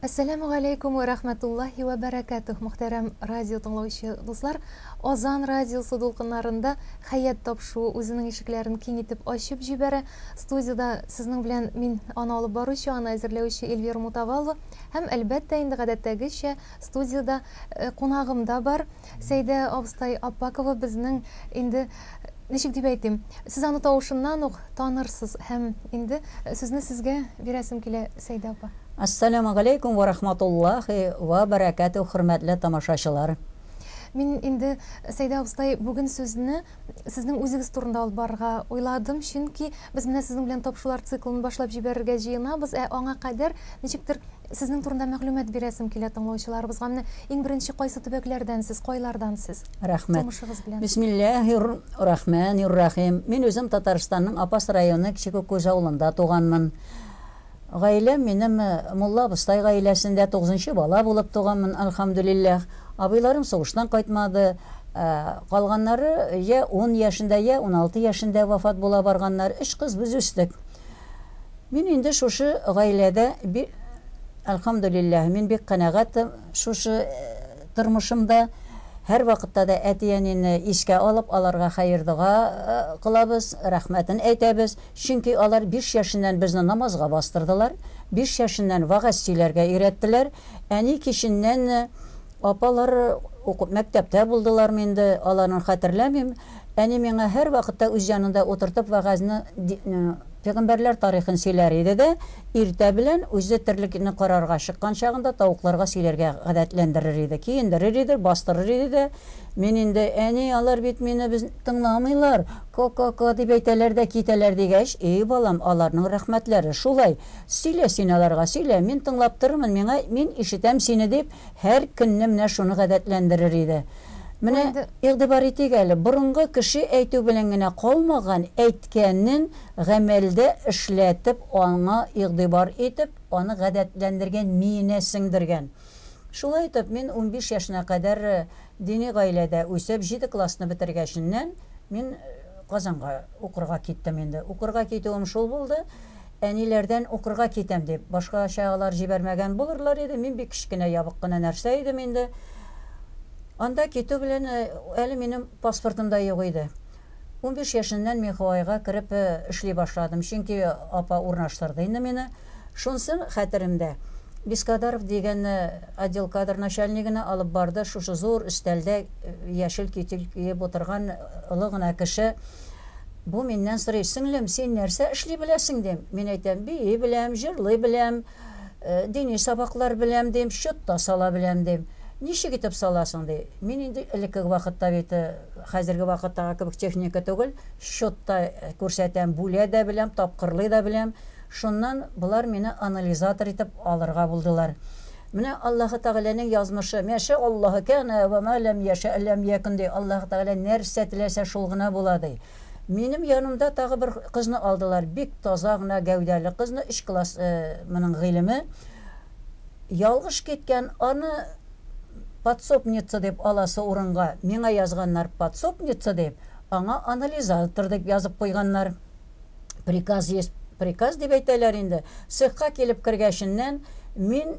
Әссәләмү галәйкүм вә рәхмәтуллаһи вә бәрәкәтүһ, мөхтәрәм радио тыңлаучы дуслар. Азан радиосы дулкыннарында хәят тапшуы үзенең ишекләрен киң итеп ачып җибәрә. Студиядә сезнең белән мин аны алып баручы, аны әзерләүче Эльвира Мутавалла һәм әлбәттә инде гадәттәгечә студиядә э, кунагым да бар. Сәйдә абыстай Аппакова безнең инде, ничек дип әйтим, сез аны тавышыннан ук танырсыз һәм инде сүзне сезгә бирәсем килә, Сәйдә апа. Әссәләмү галәйкүм вә рахматуллаһи вә бәрәкәтүһ хөрмәтле тамашачылар. Мин инде, Сәйдә абыстай, бүген сүзне Сезнең үзегез турында алып барырга уйладым, чөнки без менә сезнең белән тапшырулар циклын башлап җибәрергә җыенабыз, ә аңа кадәр ничектер сезнең турында мәгълүмат бирәсем килә тыңлаучыларыбызга. Менә иң беренче кайсы төбәкләрдән сез, кайлардан сез? Рәхмәт. Тумышыгыз белән. Бисмиллаһир рахманир рахим. Мин үзем Татарстанның Апас районы Кече Күккүз авылында туганмын. Гаиләм минем мулла абыстай гаиләсендә тугызынчы бала булып туганмын, альхамдулилләх. Абыйларым сугыштан кайтмады. Ә калганнары йә ун яшендә, йә уналты яшендә вафат була барганнар. Өч кыз без үстек. Мин инде шушы гаиләдә би альхамдулилләх, мин бик канәгать шушы тормышымда. Һәрвакытта да әти-әнине искә алып, аларга хәер-дога кылабыз, рәхмәтен әйтәбез. Чөнки алар биш яшеннән безне намазга бастырдылар, биш яшеннән вәгазь сөйләргә өйрәттеләр. Әни киченнән Апалар уку мәктәптә булдылармы инде, аларын хәтерләмим. Әни миңа һәрвакытта үз янында утыртып вәгазьне ди пигамбәрләр тарихын сөйләр иде дә, иртә белән үзе терлекне карарга чыккан чагында тавыкларга сөйләргә гадәтләндерер иде, киендерер иде, бастырыр иде дә, мин инде, Әни, алар бит мине без. Тыңламыйлар, ко-ко-ко дип әйтәләр дә китәләр, дигәч, И, балам, аларның рәхмәтләре шулай. Сөйлә син аларга, сөйлә, мин тыңлап торырмын, миңа, мин ишетәм сине, дип, һәр көнне менә шуны гадәтләндерер иде. Менә игътибар итик әле, борынгы кеше әйтү белән генә калмаган, әйткәнен гамәлдә эшләтеп, аңа игътибар итеп, аны гадәтләндергән, миенә сеңдергән. Шулай итеп, мин унбиш яшенә кадәр Дини гаиләдә үсеп, җиде классны бетергәченнән, мин Казанга укырга киттем инде. Укырга китүем шул булды, әниләрдән укырга китәм дип, башкача алар җибәрмәгән булырлар иде, мин бик кечкенә ябык кына нәрсә идем инде. Анда китү белән, әле минем паспортым да юк иде. Унбиш яшеннән мин Хаваига кереп эшли башладым, чөнки апа урнаштырды инде мине. Шунсы хәтеремдә, Бескадаров дигәнне отдел кадр начальнигына алып барды, шушы зур өстәлдә яшел китель киеп утырган олы гына кеше. Бу миннән сорый, Сеңлем, син нәрсә эшли беләсең, дим. Мин әйтәм, бии беләм, җырлый беләм, дини сабаклар беләм, дим, счет та сала беләм, дим. Ничек итеп саласың, ди. Мин инде элеккеге вакытта бит, хәзерге вакыттагы кебек техника түгел, счет та күрсәтәм, бүлә дә беләм, тапкырлый да беләм. Шуннан болар мине анализатор итеп алырга булдылар. Менә Аллаһы Тәгаләнең язмышы, мә шә Аллаһ, кәнә вә мә ләм йә шә ләм йәкүн, ди, Аллаһы Тәгалә нәрсә теләсә шул гына була, ди. Минем янымда тагы бер кызны алдылар, бик таза гына гәүдәле кызны, өч класс моның гыйлеме ялгыш киткән, аны подсобница дип аласы урынга миңа язганнар подсобница дип, аңа анализатор дип язып куйганнар. приказ есть приказ дип әйтәләр инде. Цехка килеп кергәченнән мин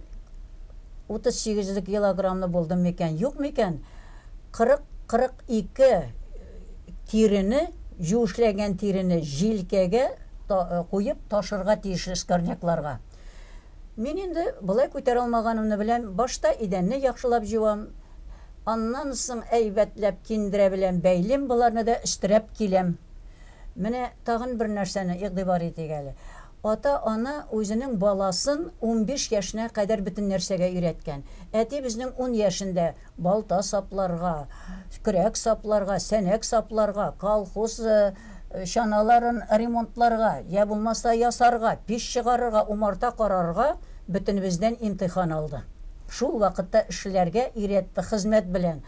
38 лек килограммлы булдым микән, юк микән? 40-42 тирене, юешләгән тирене җилкәгә э, куеп ташырга тиешле скорнякларга. Мин инде былай күтәрә алмаганымны беләм. Башта идәнне яхшылап җуам. Аннан соң әйбәтләп киндерә белән бәйлим, боларны да өстерәп киләм. Менә тагын бер нәрсәне игътибар итик әле. Ата-ана үзенең баласын унбиш яшенә кадәр бөтен нәрсәгә өйрәткән. Әти безнең ун яшендә балта сапларга, көрәк сапларга, сәнәк сапларга, колхоз чаналарын ремонтларга, йә булмаса ясарга, пич чыгарырга, умарта карарга бөтенебездән имтихан алды. Шул вакытта эшләргә өйрәтте хезмәт белән.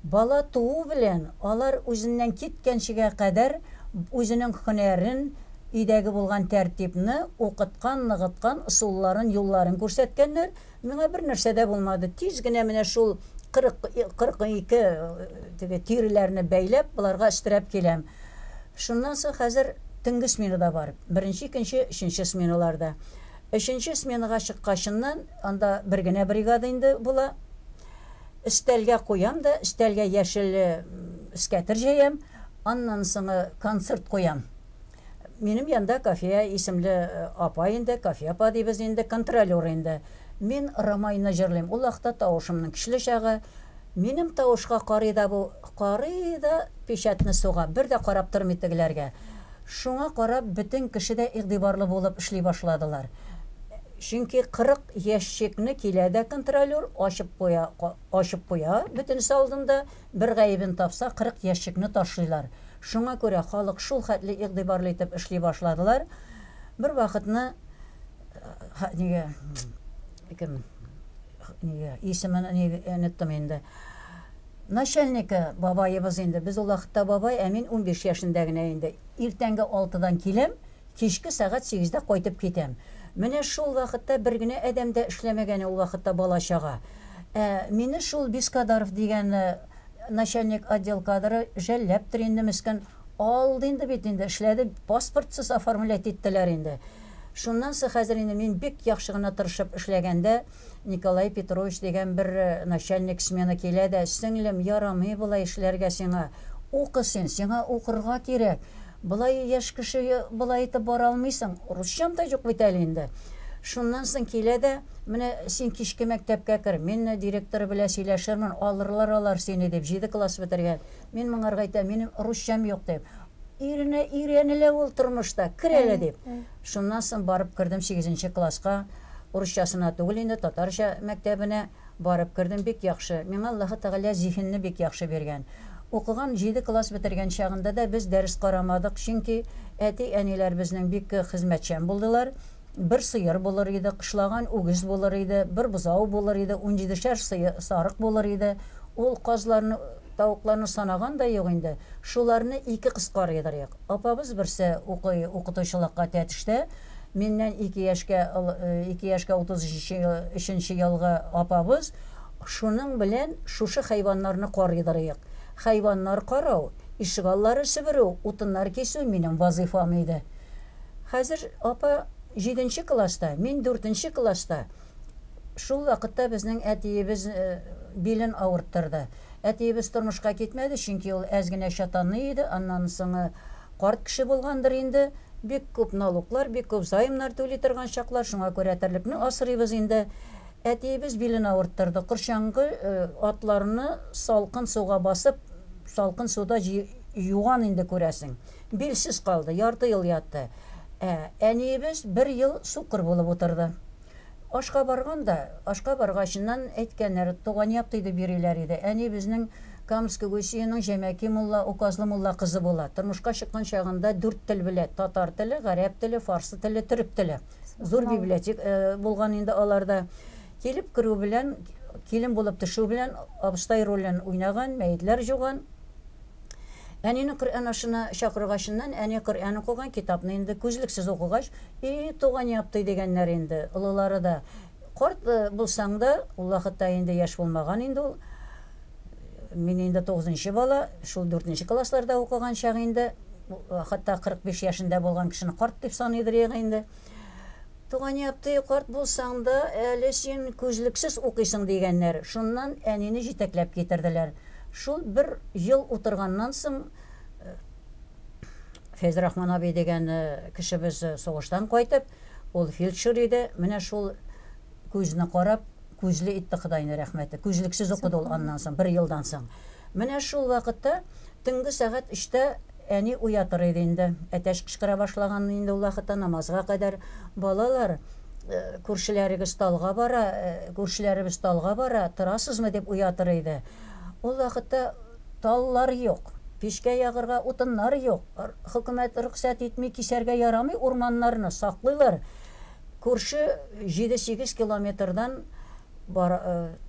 Бала туу белән алар үзеннән киткәнчегә кадәр үзенең һөнәрен, өйдәге булган тәртипне, укыткан, ныгыткан ысулларын, юлларын күрсәткәннәр. Миңа бернәрсә дә булмады. Тиз генә менә шул 40-42 теге тиреләрне бәйләп, боларга өстерәп киләм. Шуннан соң хәзер төнге сменада бар. Беренче, икенче, өченче сменаларда. Өченче сменага чыккачыннан, анда бер генә бригада инде була. Өстәлгә куям да, өстәлгә яшел скәтер җәям, аннан соңы концерт куям. Минем янда Кафия исемле апа инде, Кафия апа дибез инде, контролер инде. Мин Ромайны җырлыйм, ул вакытта тавышымның көчле чагы. Минем тавышка карый да бу, карый да печатьне суга, бер дә карап тормый тегеләргә. Шуңа карап бөтен кеше дә игътибарлы булып эшли башладылар. Чөнки 40. Ящикны килә дә контролер, ачып куя, ачып куя, бөтенесе алдында, бер гаебен тапса, 40 ящикны ташлыйлар. Шуңа күрә халык шул хәтле игътибарлы итеп эшли башладылар, бервакытны ха нигә кем нигә исемен оныттым инде, начальнигы бабаебыз инде, без ул вакытта бабай, ә мин унбиш яшендә генә инде, иртәнге алтыдан киләм, Кичке сәгать сигездә кайтып китәм. Менә шул вакытта бер генә адәм дә эшләмәгәне ул вакытта бала-чага. Ә мине шул Бескадаров дигән начальник отдел кадры жәлләптер инде, мескен. Алды инде бит инде, эшләде, паспортсыз оформлять иттеләр инде. Шуннан соң хәзер инде мин бик яхшы гына тырышып эшләгәндә, Николай Петрович дигән бер начальник смена килә дә, Сеңлем, ярамый болай эшләргә сиңа. Укы син, сиңа укырга кирәк. Болай яшь кеше болай итеп бара алмыйсың. Русчам да юк бит әле инде. Шуннан соң килә дә, Менә син кичке мәктәпкә кер, мин директор белән сөйләшермен, алырлар алар сине, дип, җиде класс бетергән. Мин моңарга әйтәм, Минем русчам юк, дип. Иренә өйрәнелә ул тормышта, кер әле, дип. Шуннан соң барып кердем сигезенче класска, урысчасына түгел инде, татарча мәктәбенә барып кердем, бик яхшы, миңа Аллаһы Тәгалә зиһенне бик яхшы биргән. Укыган җиде класс бетергән чагында да без дәрес карамадык, чөнки әти-әниләр безнең бик хезмәтчән булдылар, бер сыер булыр иде, кышлаган үгез булыр иде, бер бозау булыр иде, унҗидешәр сарык булыр иде, ул казларны, тавыкларны санаган да юк инде, шуларны ике кыз карыйдыр идек. Апабыз берсе укый укытучылыкка тәтештә, миннән ике яшькә ыл ике яшькә 33 ел өченче елгы апабыз Шуның белән шушы хайваннарны карыйдырыйк. Хайваннар карау, ишегаллары себерү, утыннар кисү минем вазыйфам иде. Хәзер апа җиденче класста, мин дүртенче класста. Шул вакытта безнең әтиебез билен авырттырды. Әтиебез тормышка китмәде, чөнки ул әз генә чатанный иде, аннан соңы карт кеше булгандыр инде. Бик күп налуклар, бик күп займнар түли торган чаклар, шуңа күрә терлекне асрыйбыз инде. Әтиебез билен авырттырды, корчаңгы атларны салкын суга басып, салкын суда юган инде, күрәсең. Билсез калды, ярты ел ятты. Ә әниебез бер ел сукыр булып утырды. Ашка барган да, ашка баргачыннан әйткәннәр, туган як тидеп йөриләр иде. Әни безнең Камск Гусиеның Җәмәки мулла, Указлы мулла кызы була. Тормышка чыккан чагында дүрт тел белә, татар теле, гарәп теле, фарсы теле, төрек теле. Зур библиотек булган инде аларда. Килеп керү белән, килен булып төшү белән абыстай ролен уйнаган, мәетләр җуган. Әнине Коръән ашына чакыргач ннан, әни Коръән укыган китапны инде күзлексез укыгач, И, туган яптый, дигәннәр инде, олылары да. Карт булсаң да, ул вакытта инде яшь булмаган инде ул. Мин инде тугызынчы бала, шул дүртенче классларда укыган чак инде. Хатта 45 яшендә булган кешене карт дип саныйдыр иде инде. Туган ятый, карт булсаң да, әле син күзлексез укыйсың, дигәннәр. Шуннан әнине җитәкләп китерделәр. Шул бер ел утырганнан соң, Фәйзрахман абый дигән кешебез сугыштан кайтып, ул фельдшер иде, менә шул күзне карап, күзле итте Ходайны рәхмәте, күзлексез укыды ул аннан соң, бер елдан соң. Менә шул вакытта төнге сәгать өчтә Әни уятыр иде инде. Әтәч кычкыра башлаган инде ул вакытта, намазга кадәр. Балалар, күршеләрегез талга бара, күршеләребез талга бара, торасызмы, дип уятыр иде. Ул вакытта таллар юк, пичкә ягырга утыннар юк, хөкүмәт рөхсәт итми, кисәргә ярамый урманнарны, саклыйлар. Күрше җиде-сигез километрдан бар,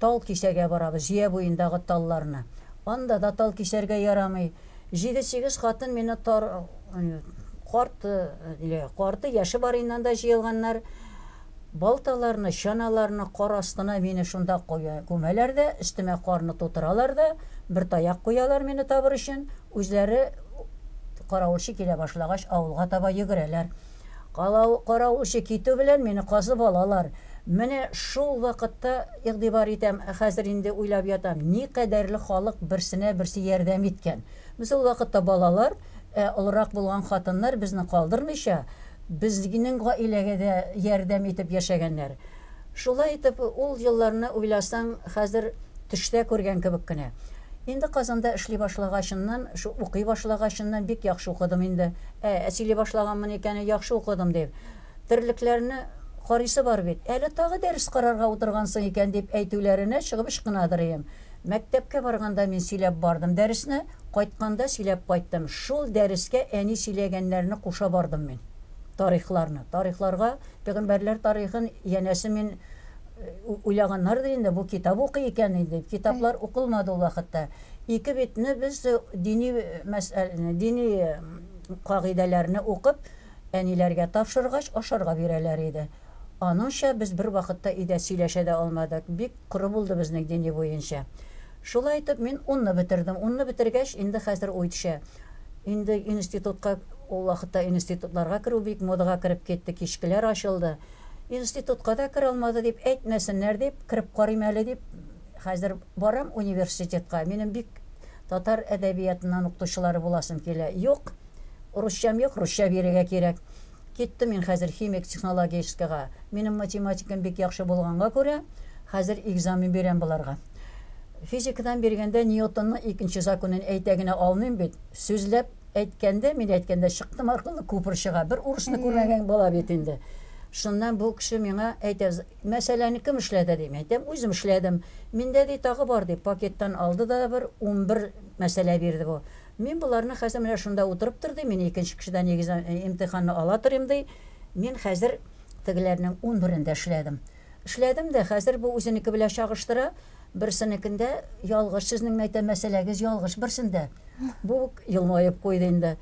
тал кисәргә барабыз, җыя буендагы талларны. Анда да тал кисәргә ярамый. Җиде-сигез хатын мине тар карты, карты яше барыннан да җыелганнар. Балталарны, чаналарны кар астына мине шунда куя, күмәләр дә, өстемә карны тутыралар да, бер таяк куялар мине табыр өчен, үзләре каравылчы килә башлагач, авылга таба йөгерәләр. Калау, карау эше китү белән мине казып алалар. Менә шул вакытта игътибар итәм, хәзер инде уйлап ятам, никадәрле халык берсенә берсе ярдәм иткән. Без ул вакытта балалар, ә олырак булган хатыннар безне калдырмыйча, безнең гаиләгә дә ярдәм итеп яшәгәннәр. Шулай итеп, ул елларны уйласаң, хәзер төштә күргән кебек кенә. Инде Казанда эшли башлагачыннан, шу, укый башлагачыннан бик яхшы укыдым инде. Ә, ә сөйли башлаганмын икән, яхшы укыдым дип. Терлекләрне карыйсы бар бит. Әле тагы дәрес карарга утыргансың икән, дип әйтүләренә чыгып ычкынадыр өем. Мәктәпкә барганда мин сөйләп бардым дәресне, кайтканда сөйләп кайттым. Шул дәрескә әни сөйләгәннәрне куша бардым мин. Тарихларны. Тарихларга. Пәйгамбәрләр тарихын янәсе мин уйлаганнардыр инде, бу китап укый икән инде. Китаплар укылмады ул вакытта. Ике битне без дини мәсьәләне, дини кагыйдәләрне укып, әниләргә тапшыргач, ашарга бирәләр иде. Аныңча без бервакытта өйдә сөйләшә дә алмадык. Бик Коры булды безнең дини буенча. Шулай итеп, мин унны бетердем. Унны бетергәч, инде хәзер уй төшә. Инде институтка, ул вакытта институтларга керү бик модага кереп китте, кичкеләр ачылды. Институтка да керә алмады дип әйтмәсеннәр дип, кереп карыйм әле дип, хәзер барам университетка. Минем бик татар әдәбиятыннан укытучылары буласым килә. Юк, урысчам юк, русча бирергә кирәк. Киттем мин хәзер химик технологическийга. Минем математикам бик яхшы булганга күрә, хәзер экзамен бирәм боларга. Физикадан биргәндә Ньютонның икенче законын әйтә генә алмыйм бит. Сүзләп әйткәндә, мин әйткәндә чыктым аркылы күпер чыга. Бер урысны күрмәгән бала бит инде. Шуннан бу кеше миңа әйтә, мәсьәләне кем эшләде, дим. Әйтәм, үзем эшләдем. Миндә, ди, тагы бар, дип, пакеттан алды да бер унбер мәсьәлә бирде бу. Мин боларны хәзер менә шунда утырып тор, ди, мин икенче кешедән экзам, имтиханны ала торыйм, ди. Мин хәзер тегеләрнең унберендә эшләдем. Эшләдем дә, хәзер бу үзенеке белән чагыштыра, берсенекендә ялгыш, сезнең мин әйтәм, мәсьәләгез ялгыш берсендә. Бу елмаеп куйды инде.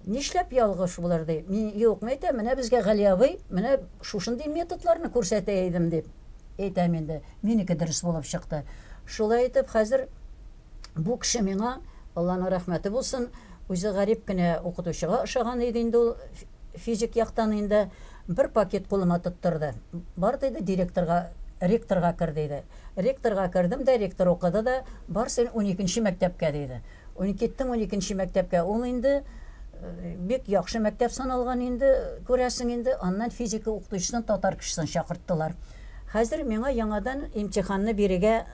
Нишләп ялгыш булыр, ди. Мин, юк, мин әйтәм, менә безгә Гали абый менә шушындый методларны күрсәтә идем, дип әйтәм инде. Минеке дөрес булып чыкты. Шулай итеп, хәзер. Бу кеше миңа, Алланың рәхмәте булсын, үзе гарип кенә укытучыга ошаган иде инде ул, физик яктан инде, бер пакет кулыма тоттырды. Бар, диде, директорга, ректорга кер, диде. Ректорга кердем дә, ректор укыды да, Бар син уникенче мәктәпкә, диде. Ун, киттем уникенче мәктәпкә. Ул инде бик яхшы мәктәп саналган инде, күрәсең инде. Аннан физика укытучысын татар кешесен чакырттылар. Хәзер миңа яңадан имтиханны бирергә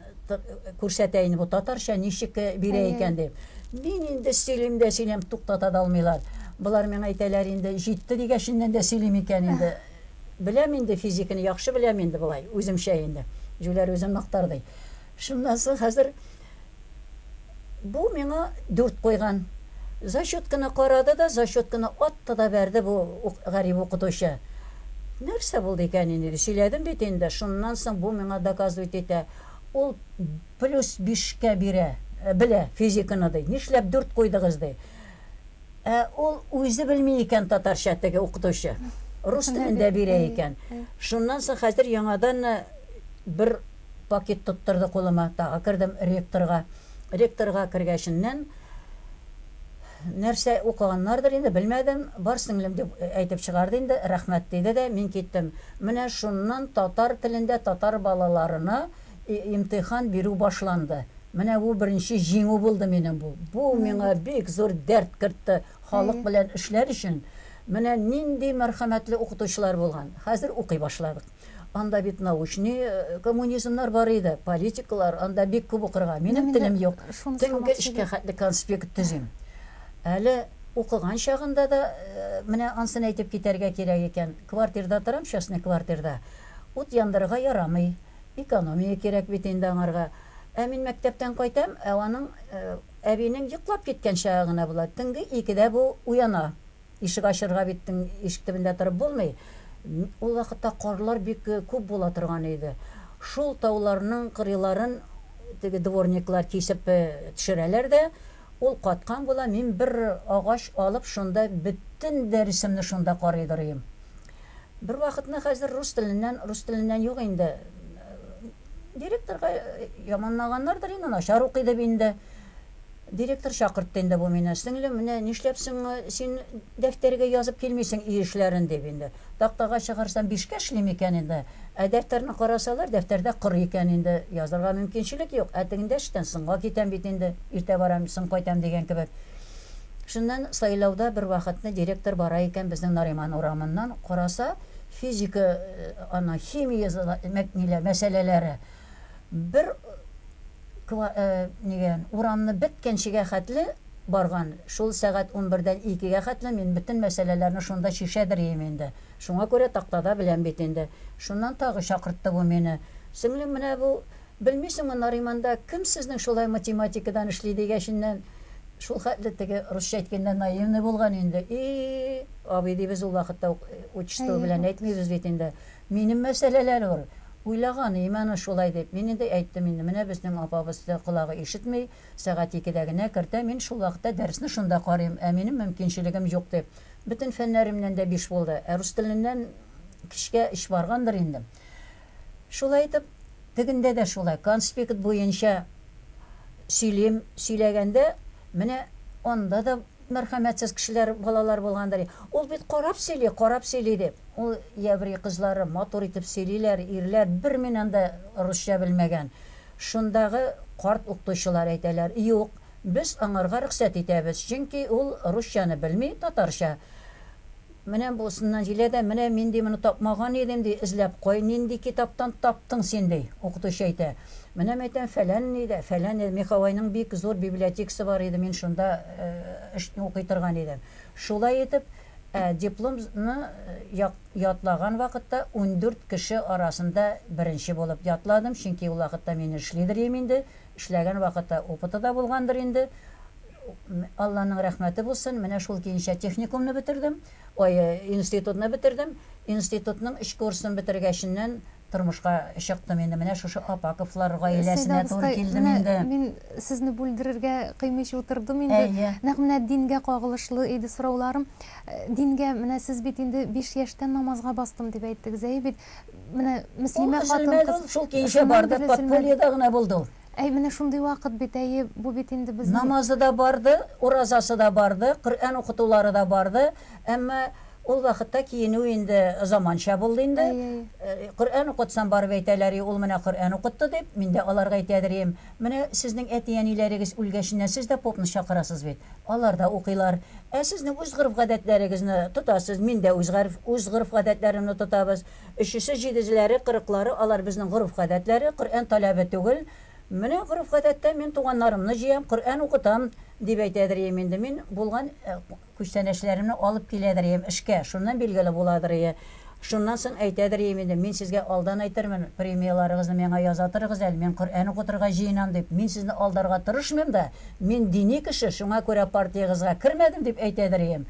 күрсәтә инде бу татарча ничек э, бирә икән дип. Мин инде сөйлим дә сөйлим, туктата да алмыйлар. Болар миңа әйтәләр инде, җитте дигәшеннән дә сөйлим икән инде. Беләм инде физиканы, яхшы беләм инде болай, үземчә инде. Җүләр үзен мактар ди. Шуннан соң хәзер Бу миңа дүрт куйган. Зачетканы карады да, зачетканы атты да бәрде бу гарип укытучы. Нәрсә булды икән инде, диде. Сөйләдем бит инде. Шуннан соң бу миңа доказывать итә, ул плюс бишкә бирә, белә физиканы, ди. Нишләп дүрт куйдыгыз, ди. Ә ул үзе белми икән татарча, теге укытучы. Рус телендә бирә икән. Шуннан соң хәзер яңадан бер. Пакет тоттырды кулыма, тагы кердем ректорга. Ректорга кергәченнән, нәрсә укыганнардыр инде, белмәдем, бар сеңлем дип әйтеп чыгарды инде, рәхмәт диде дә, мин киттем. Менә шуннан татар телендә татар балаларына имтихан бирү башланды. Менә бу беренче җиңү булды минем бу. Бу миңа бик зур дәрт кертте, халык белән эшләр өчен менә нинди мәрхәмәтле укытучылар булган. Хәзер укый башладык. Анда бит научный э, коммунизмнар бар иде, политиклар, анда бик күп укырга. Минем телем юк. Төнге эшкә хәтле конспект төзим. Әле укыган чагында да э, менә ансын әйтеп китәргә кирәк икән. Квартирда торам, частный квартирда. Ут яндырырга ярамый. Экономия кирәк бит инде аңарга. Ә мин мәктәптән кайтам, ә аның э, әбинең йоклап киткән чагы гына була. Төнге икедә бу уяна. Ишек ачырга бит ишек төбендә торып булмый. Ул вакытта карлар бик күп була торган иде. Шул тауларның кырыйларын теге дворниклар кисеп төшерәләр дә, ул каткан була, мин бер агач алып, шунда бөтен дәресемне шунда карый дорыйм. Бервакытны хәзер рус теленнән, рус теленнән юк инде, директорга яманлаганнардыр инде, начар укый дип инде, Директор чакыртты инде бу мине. Сеңлем, менә нишләп соң син дәфтәргә язып килмисең өй эшләрен, дип инде. Тактага чыгарсам, бишкә эшли микән инде? Ә дәфтәрне карасалар, дәфтәрдә кыр икән инде. Язырга мөмкинчелек юк. Ә тегендә эштән соңга китәм бит инде. Иртә барам, соң кайтам дигән кебек. Шуннан сайлауда бервакытны директор бара икән безнең Нариман урамыннан, караса, физика, ана, химия мәсьәләләре. бер ква э нигә, урамны беткәнчегә хәтле барган, шул сәгать унбердән икегә хәтле мин бөтен мәсьәләләрне шунда чишәдер ием инде, шуңа күрә тактада беләм бит инде. Шуннан тагы чакыртты бу мине. Сеңлем, менә бу, белмисеңме, Нариманда кем сезнең шулай математикадан эшли, дигәченнән, шул хәтле теге русча әйткәндә наивный булган инде, И-и-и, абый, дибез ул вакытта ук, отчество белән әйтмибез бит инде. Минем мәсьәләләр ул. Уйлаган, и менә шулай дип. Мин инде әйттем инде, менә безнең апабыз да колагы ишетми, сәгать икедә генә кертә, мин шул вакытта дәресне шунда карыйм, ә минем мөмкинчелегем юк дип. Бөтен фәннәремнән дә биш булды, ә рус теленнән кичкә өч баргандыр инде. Шулай итеп, тегендә дә шулай, конспект буенча сөйлим, сөйләгәндә менә анда да Мәрхәмәтсез кешеләр балалар булгандыр. Ул бит карап сөйли, карап сөйли дип. Ул еврей кызлары матур итеп сөйлиләр, ирләр бер минан да русча белмәгән. Шундагы карт уктучылар әйтәләр, Юк, без аңарга рөхсәт итәбез, чөнки ул русчаны белми, татарча. Менә бусыннан җилә дә, Менә мин, ди, моны тапмаган идем, ди, эзләп кой, нинди китаптан таптың син, ди. Укытучы әйтә. Менә мәйтәм, фәлән ни дә, фәлән ни дә, Михавайның бик зур библиотекасы бар иде, мин шунда эш укый торган идем. Шулай итеп, ә диплом ны як ятлаган вакытта ундүрт кеше арасында беренче булып ятладым, чөнки ул вакытта мин эшли дер им инде, Эшләгән вакыты опыты да булгандыр инде. Алланың рәхмәте булсын, менә шул көенчә техникумны бетердем, ой, институтны бетердем. Институтның өч курсын бетергәченнән тормышка чыктым инде, менә шушы Апаковлар гаиләсенә туры килдем инде. Сәйдә абыстай, менә мин сезне бүлдерергә кыймыйча утырдым инде. Нәкъ менә дингә кагылышлы иде сорауларым. Дингә, менә сез бит инде биш яшьтән намазга бастым дип әйттегез. Әйе бит. менә мөслимә хатын кыз шул кичә барды подпольеда гына булды ул әй менә шундый вакыт бит әйе бу бит инде без намазы да барды уразасы да барды коръән укытулары да барды әмма ул вакытта киенү инде заманча булды инде коръән укытсам барып әйтәләр ул менә коръән укытты дип мин дә аларга әйтәдер идем Менә сезнең әти-әниләрегез үлгәченнән сез дә попны чакырасыз бит. Алар да укыйлар. Ә сезнең үз гореф-гадәтләрегезне тотасыз, мин дә үз гареф, үз гореф-гадәтләремне тотабыз. Өчесе, җидезеләре, кырыклары, алар безнең гореф-гадәтләре, Коръән таләбе түгел. Менә гореф-гадәттә мин туганнарымны җыям, Коръән укытам, дип әйтәдер ием инде мин, булган, э, Күчтәнәчләремне алып киләдер ием эшкә, шуннан билгеле буладыр ие. Шуннан соң әйтәдер ием инде, мин сезгә алдан әйтермен, премияләрегезне миңа яза торыгыз әле, мин Коръән укытырга җыенам дип, мин сезне алдарга тырышмыйм да, мин дини кеше, шуңа күрә партиягызга кермәдем дип әйтәдер ием.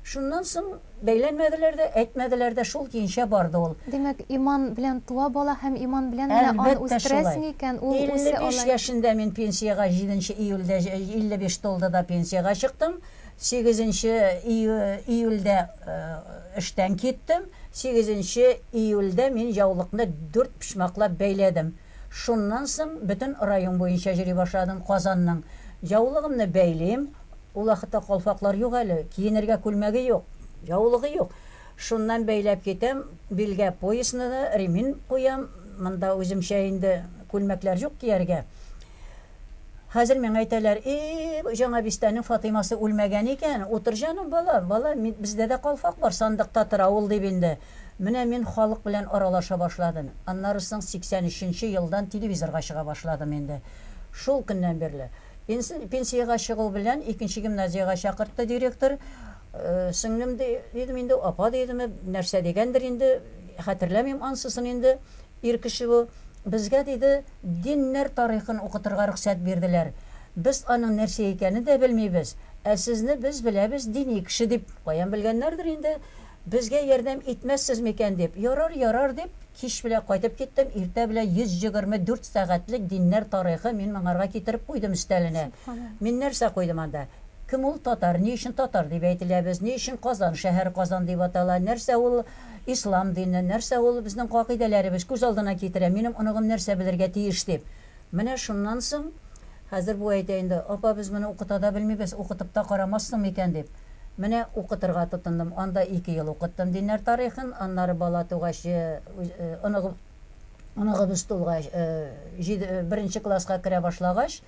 Шуннан соң бәйләнмәделәр дә, әйтмәделәр дә, шул көенчә барды ул. Димәк, иман белән туа бала һәм иман белән генә аны Әлбәттә шулай. үстерәсең икән, ул Илле үсә биш алай. яшендә мин пенсиягә, җиденче июльдә җ илле биш тулды да пенсиягә чыктым. Сигезенче июльдә эштән киттем. Сигезенче июльдә мин яулыкны дүрт почмаклап бәйләдем. Шуннан соң бөтен район буенча йөри башладым, Казанның. Яулыгымны бәйлим, ул вакытта калфаклар юк әле, киенергә күлмәге юк, яулыгы юк. Шуннан бәйләп китәм, билгә поясны да, ремень куям, монда үземчә инде күлмәкләр юк кияргә. Хәзер миңа әйтәләр, И-и-и, Җаңа Бистәнең Фатыймасы үлмәгән икән. Утыр җаным, балам, балам, мин, бездә дә калфак бар, сандыкта тора ул, дип инде. Менә мин халык белән аралаша башладым. Аннары соң 83 нче елдан телевизорга чыга башладым инде. Шул көннән бирле. Пенси, пенсиягә чыгу белән икенче гимназиягә чакыртты директор. Сеңлем, ди, дидем инде, апа, дидеме, нәрсә дигәндер инде, хәтерләмим ансысын инде. Ир кеше бу. Безгә, диде, диннәр тарихын укытырга рөхсәт бирделәр. Без аның нәрсә икәнен дә белмибез. Ә сезне без беләбез, дини кеше дип. Каян белгәннәрдер инде. Безгә ярдәм итмәссез микән дип. Ярар, ярар, дип, кич белән кайтып киттем. Иртә белән 124 сәгатьлек диннәр тарихы мин моңарга китереп куйдым өстәленә. Мин нәрсә куйдым анда? Кем ул татар? Ни өчен татар дип әйтелә без? Ни өчен Казан шәһәре Казан дип атала? Нәрсә ул? Ислам дине, нәрсә ул, безнең кагыйдәләребез, күз алдына китерә, минем оныгым нәрсә белергә тиеш дип. Менә шуннан соң, хәзер бу әйтә инде, Апа, без моны укыта да белмибез, укытып та карамассың микән, дип. Менә укытырга тотындым. Анда ике ел укыттым диннәр тарихын, аннары бала тугач, оныгыбыз тулгач, җиде, беренче класска керә башлагач,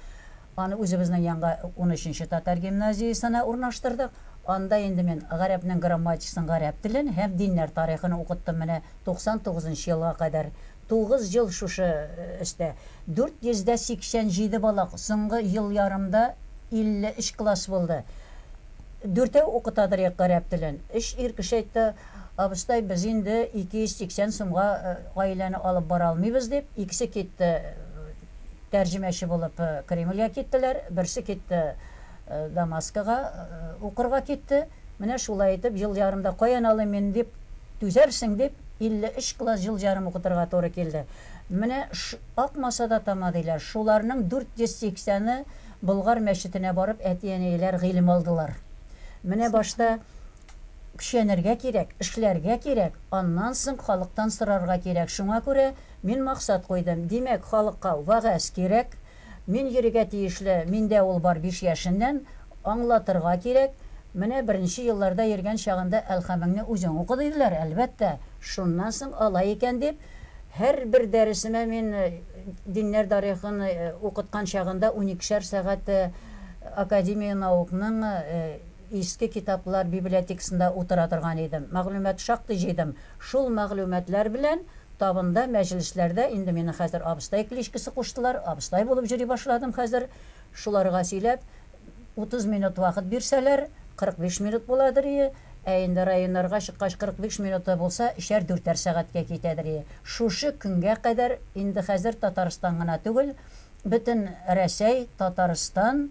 Аны үзебезнең янга унөченче татар гимназиясенә урнаштырдык. Анда инде мин гарәпнең грамматикасын, гарәп телен һәм диннәр тарихын укыттым менә 99 нчы елга кадәр. Тугыз ел шушы эштә. 487 бала соңгы ел ярымда 53 класс булды. Дүртәү укыта торыйк гарәп телен. Өч ир кеше әйтте, Абыстай, без инде 280 сумга гаиләне алып бара алмыйбыз, дип, икесе китте. Тәрҗемәче булып Кремльгә киттеләр, берсе китте Дамаскыга, укырга китте. Менә шулай итеп, ел ярымда каян алыйм мин дип, түзәрсең дип, 53 класс ел ярым укытырга туры килде. Менә акмаса да тама, диләр. Шуларның 480 ы Болгар мәчетенә барып әти-әниеләр гыйлем алдылар. Менә башта көчәнергә кирәк, эшләргә кирәк, аннан соң халыктан сорарга кирәк. Шуңа күрә Мин максат куйдым, димәк, халыкка вәгазь кирәк. Мин йөрергә тиешле, миндә ул бар биш яшеннән. Аңлатырга кирәк. Менә беренче елларда йөргән чагында Әлхәмеңне үзең укы диделәр, әлбәттә. Шуннан соң алай икән дип, һәрбер дәресемә мин диннәр тарихын укыткан чагында уникешәр сәгать Академия наукның, Иске китаплар библиотекасында утыра торган идем. Мәгълүмат шактый җыйдым. Шул мәгълүматлар белән табында, мәҗлесләрдә инде мине хәзер абыстай кличкасы куштылар, абыстай булып йөри башладым хәзер. Шуларга сөйләп, утыз минут вакыт бирсәләр, 45 минут буладырие, ә инде районнарга чыккач 45 минуты булса, өчәр-дүртәр сәгатькә китәдерие. Шушы көнгә кадәр, инде хәзер Татарстан гына түгел, Бөтен Рәсәй, Татарстан,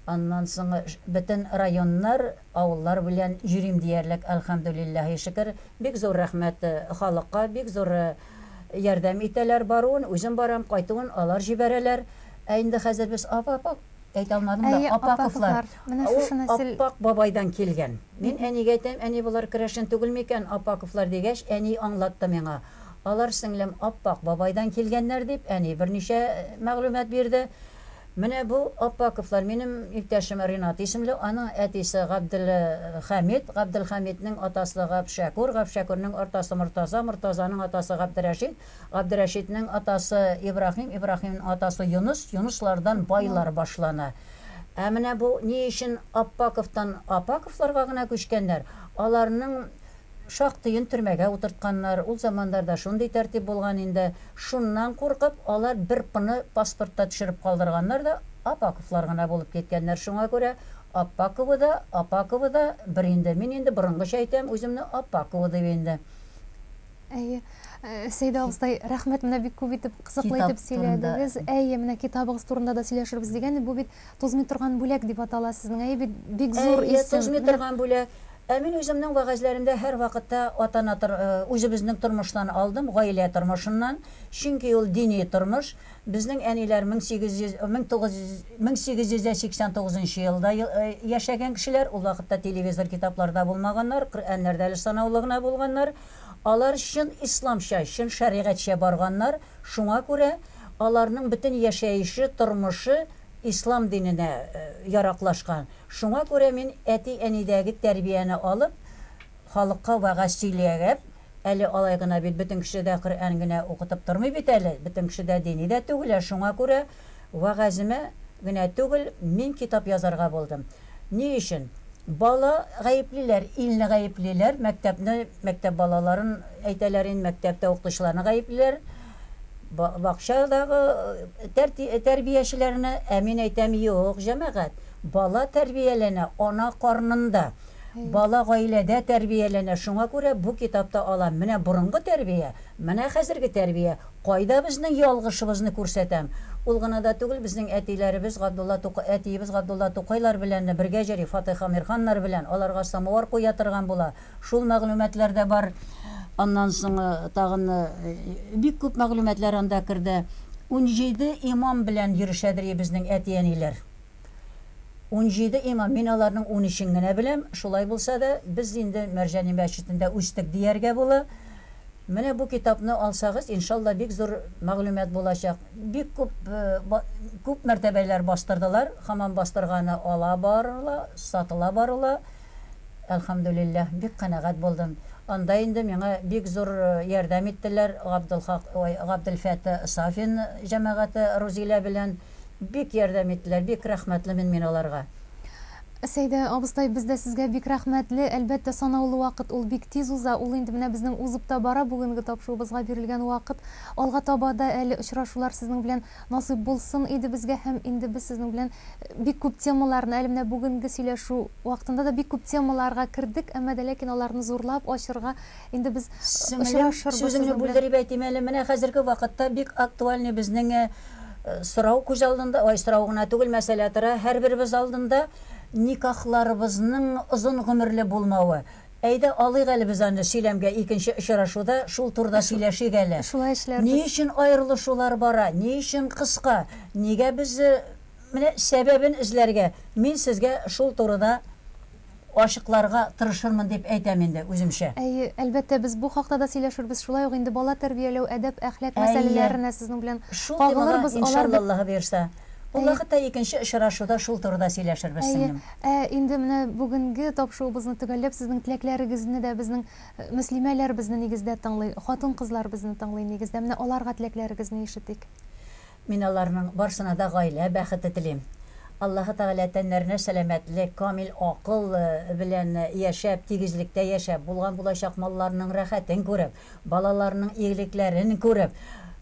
аннан соң бөтен районнар, авыллар белән йөрим диярлек, әлхәмдүлилләһи шөкер. Бик зур рәхмәт халыкка, бик зур ярдәм итәләр, баруын үзем барам, кайтуын алар җибәрәләр. Ә инде хәзер без ап-ап-ап, әйтә алмадым да, Әйе, Апаковлар, Апаковлар, менә ул шушы нәсел. Аппак бабайдан килгән. Мин әнигә әйтәм, әни, болар керәшен түгелме икән, Апаковлар, дигәч, әни аңлатты миңа. Алар, сеңлем, Аппак бабайдан килгәннәр, дип, әни берничә мәгълүмат бирде. Менә бу Аппаковлар минем иптәшем Ринат исемле, аның әтисе Габделхәмит, Габделхәмитнең атасы Гапшәкүр, Гапшәкүрнең атасы Мортаза, Мортазаның атасы Габдерәшит, Габдерәшитнең атасы Ибраһим, Ибраһимнең атасы Юныс, Юныслардан байлар башлана. Ә менә бу ни өчен Аппаковтан Апаковларга гына күчкәннәр, аларның Шактыен төрмәгә утыртканнар, ул заманнарда шундый тәртип булган инде. Шуннан куркып, алар бер П-ны паспортта төшереп калдырганнар да, Апаковлар гына булып киткәннәр Шуңа күрә Аппаковы да, Апаковы да бер инде Мин инде борынгыча әйтәм үземне Аппаковы дип инде. Әйе. Сәйдә абыстай, рәхмәт, менә бик күп итеп, кызыклы итеп сөйләдегез. Әйе, менә китабыгыз турында да сөйләшербез дигән идек. Бу бит Тузмый торган бүләк дип атала сезнең. Әйе бит, бик зур исем. Әйе, Тузмый торган бүләк. Ә мин үземнең вәгазьләремдә һәрвакытта ата-ана тор, үзебезнең тормыштан алдым, гаилә тормышыннан, чөнки ул дини тормыш. Безнең әниләр мең сигез йөз, мең тугыз йөз, мең сигез йөз дә сиксән тугызынчы елда яшәгән кешеләр, ул вакытта телевизор, китаплар да булмаганнар, Коръәннәр дә әле санаулы гына булганнар. Алар чын исламча, чын шәригатьчә барганнар, шуңа күрә аларның бөтен яшәеше, тормышы ислам диненә яраклашкан. Шуңа күрә мин әти-әнидәге тәрбияне алып, халыкка вәгазь сөйлиягәп, әле алай гына бит, бөтен кеше дә Коръән генә укытып тормый бит әле, бөтен кеше дә дини дә түгел, ә шуңа күрә вәгаземә генә түгел, мин китап язарга булдым. Ни өчен? Бала гаеплиләр, илне гаеплиләр, мәктәпне, мәктәп балаларын әйтәләр инде, мәктәптә укытучыларны гаеплиләр. Бакчадагы тәрбиячеләрне, ә мин әйтәм, юк, җәмәгать, бала тәрбияләнә ана карнында. Бала гаиләдә тәрбияләнә, шуңа күрә бу китапта алам, менә борынгы тәрбия, менә хәзерге тәрбия, кайда безнең ялгышыбызны күрсәтәм. Ул гына да түгел, безнең әтиләребез Габдулла Тукай, әтиебез Габдулла Тукайлар белән бергә җөри, Фатыйх Әмирханнар белән, аларга самовар куя торган була. Шул мәгълүматлар да бар. Аннан соң тагын бик күп мәгълүматлар анда керде. Унҗиде имам белән йөрешәдери безнең әти-әниләр. Унҗиде имам. Мин аларның унөчен генә беләм. Шулай булса да, без инде Мәрҗани мәчетендә үстек дияргә була. Менә бу китапны алсагыз, иншалла, бик зур мәгълүмат булачак. Бик күп күп мәртәбәләр бастырдылар, хаман бастырганы ала барыла, сатыла барыла. Әлхәмдүлилләһ, бик канәгать булдым. Анда инде миңа бик зур ярдәм иттеләр, Габделхак, ой, Габделфәта Сафин җәмәгате Рузилә белән бик ярдәм иттеләр, бик рәхмәтлемен мин аларга. Сәйдә абыстай, без дә сезгә бик рәхмәтле. Әлбәттә, санаулы вакыт, ул бик тиз уза. Ул инде менә безнең узып та бара, бүгенге тапшуыбызга бирелгән вакыт. Алга таба да әле очрашулар сезнең белән насыйп булсын иде безгә һәм инде без сезнең белән Бик күп темаларны, әле менә бүгенге сөйләшү вакытында да бик күп темаларга кердек, әмма дә ләкин аларны зурлап ачырга инде без очрашырбыз сезнең белән. Сеңелем, сүзеңне бүлдереп әйтим әле, менә хәзерге вакытта бик актуальный безнең сорау күз алдында, ой, сорау гына түгел, мәсьәлә тора һәрберебез алдында, никахларыбызның озын гомерле булмавы. Әйдә, алыйк әле без аны сөйләмгә, икенче очрашуда шул турыда сөйләшик әле. Шулай эшләрбез. Ни өчен аерылышулар бара, ни өчен кыска, нигә без Менә сәбәбен эзләргә, мин сезгә шул турыда ачыкларга тырышырмын дип әйтәм инде үземчә. Әйе, әлбәттә, без бу хакта да сөйләшербез, шулай ук инде бала тәрбияләү, әдәп, әхлак мәсьәләләренә сезнең белән кагылырбыз, алар бит. Әйе, шул темага, иншаллаллаһы боерса. Ул вакытта икенче очрашуда шул турыда сөйләшербез, сеңлем. Әйе. Ә инде менә бүгенге тапшуыбызны төгәлләп, сезнең теләкләрегезне дә безнең мөслимәләр безне нигездә тыңлый, хатын-кызлар безне тыңлый нигездә. Менә аларга теләкләрегезне ишетик. Мин аларның барсына да гаилә бәхете телим. Аллаһы Тәгалә тәннәренә сәламәтлек, камил акыл белән яшәп, тигезлектә яшәп, булган-булачак малларының рәхәтен күреп, Балаларның игелекләрен күреп,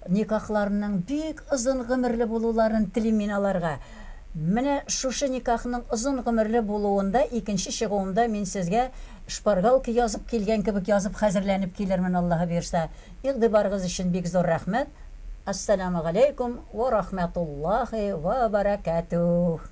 никахларының бик озын гомерле булуларын телим мин аларга. Менә шушы никахның озын гомерле булуында икенче чыгуымда мин сезгә шпаргалка язып килгән кебек язып хәзерләнеп килермен, Аллаһы боерса. Игъдибарыгыз өчен бик зур рәхмәт. Ассәләмү галәйкүм вә рахмәтуллаһи вә бәрәкәтүһ.